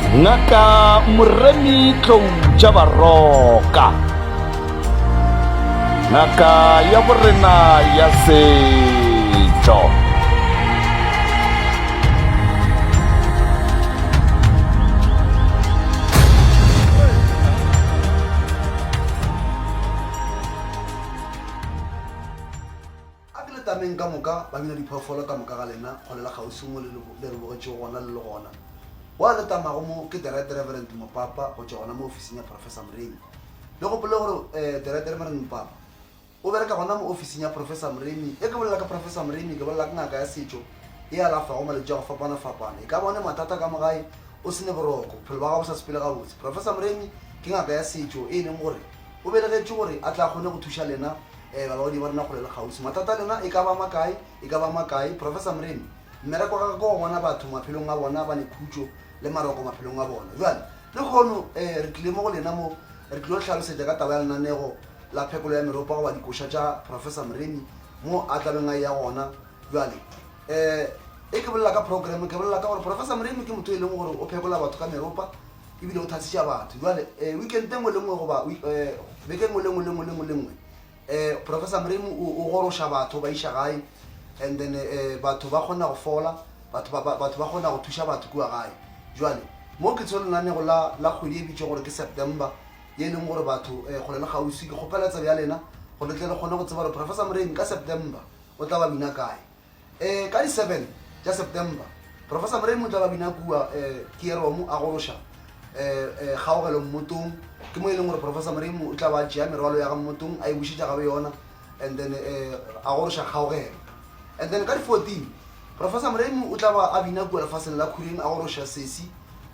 ngaka moremi tlou tša baroka ngaka ya borena ya setšo A ke le tameng ka moka, ba bina diphoofolo ka moka ga lena, kgole le kgauswi mo le le re bogetšego gona le le gona. Wa le tamago mo ke The Right Reverend Mopapa go tšwa gona mo ofising ya Professor Mremi. Le gopole gore eh, The Right Reverend Mopapa o bereka gona mo ofising ya Professor Mremi. Ge ke bolela ka Professor Mremi, ke bolela ka ngaka ya setšo e alafago malwetši a go fapana-fapana. E ka ba o ne mathata ka mo gae, o se ne boroko, bophelo ba gago bo sa sepele gabotse, Professor Mremi ke ngaka ya setšo e e leng gore o belegetšwe gore a tle a kgone go thuša lena Ee, balaodi ba rena kgole le kgauswi. Mathata a lena e ka ba a makae, e ka ba a makae. Professor Mremi, Mmereko wa gagwe ke go bona batho maphelong a bona ba ne khutšo le maroko maphelong a bona. Bjale, lekhono, ee, re tlile mo go lena mo, re tlilo hlalosetša ka taba ya lenanego la phekolo ya meropa goba dikoša tša Professor Mremi, mo a tla beng a eya gona. Bjale, ee, e ke bolela ka program, ke bolela ka gore Professor Mremi ke motho e leng gore o phekola batho ka meropa. ebile o thasiša batho jale um weekend e ngwe le ngwe goba um beke ngwe le ngwe le ngwe le ngwe le ngwe um professor mremu o goroša batho ba iša gae and then um batho ba kgona go fola batho ba kgona go thuša batho kua gae jale mo ke tsho lenanego la kgwedi e bitšo gore ke september ye e leng gore batho um kgole le kgauswi ke kgopela tsebe ya lena gore le tle le kgone go tseba gore professor mremu ka september o tla ba bina kae um ka di seven tša september professor morei motlala bina kua um keeromo a goroša um kgaogelo mmotong ke mo e leng gore professor morei o tla ba tšea merwalo ya ga mmotong a e bušetša gabe yona and then um a goroša kgaogelo and then ka di fourteen professor moremo o tla ba a bina kua lefaseng la khureng a goroša sesi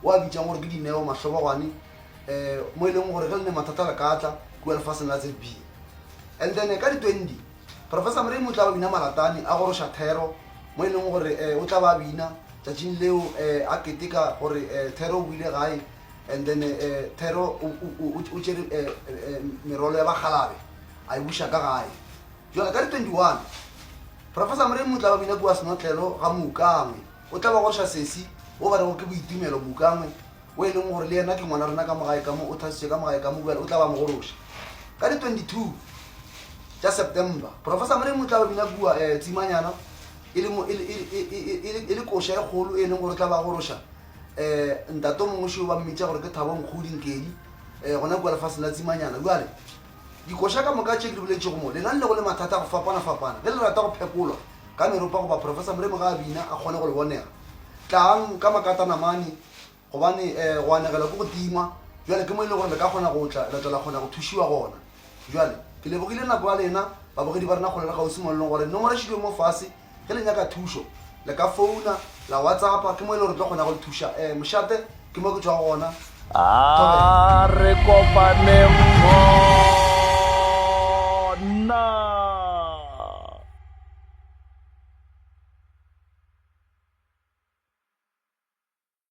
o a bitsang gore ke dineo mahlobogwane um mo e leng gore ge le ne mathata le ka tla kua lefaseng la zb and then ka di twenty Professor Mremu o tla ba bina malatane a goroša thero mo e leng gore um o tla ba bina tšatšing leo um a keteka gore um thero o boile gae and then um thero o tšere um merwalo ya bakgalabe a e buša ka gae jale ka di 21 Professor Mremu o tla ba bina kua senotlelo ga moukangwe o tla ba goroša sesi wo ba rego ke boitumelo moukangwe wo e lego gore le yena ke ngwana rena ka mo gae ka mo, o thasitšwe ka mo gae ka mo, bjale o tla ba mogološa. Ka di 22 tša September, Professor Mremu o tla ba bina kua eh, Tsimanyana e le, mo, e, le, e, le, e, e, e, le, e le koša e kgolo e leng gore o tla ba gološa eh, ntato mongwe šeo ba mmitša gore ke Thabo Nkgodi Nkedi eh, gona kua lefaseng la Tsimanyana. Bjale dikoša ka moka tše ke di boletšego mo, lenang le go le mathata a go fapana-fapana ge le rata go phekolwa ka meropa goba Professor Mremu ga a bina a kgone go le bonega, tlang ka makatanamane gobane um eh, go anegelwa ke go tima jale ke mo e le gore le ka kgona go tla la tla la kgona go thušiwa gona jale ke lebogile nako ya lena babogedi ba rena kgolelo gausi molelong gore nomoro e šilwe mo fase ge le nyaka thušo le ka founa la whatsappa ke mo e le gore tlo kgona go le thuša um eh, mošate ke mo ke tswa gona a re kopaneng gona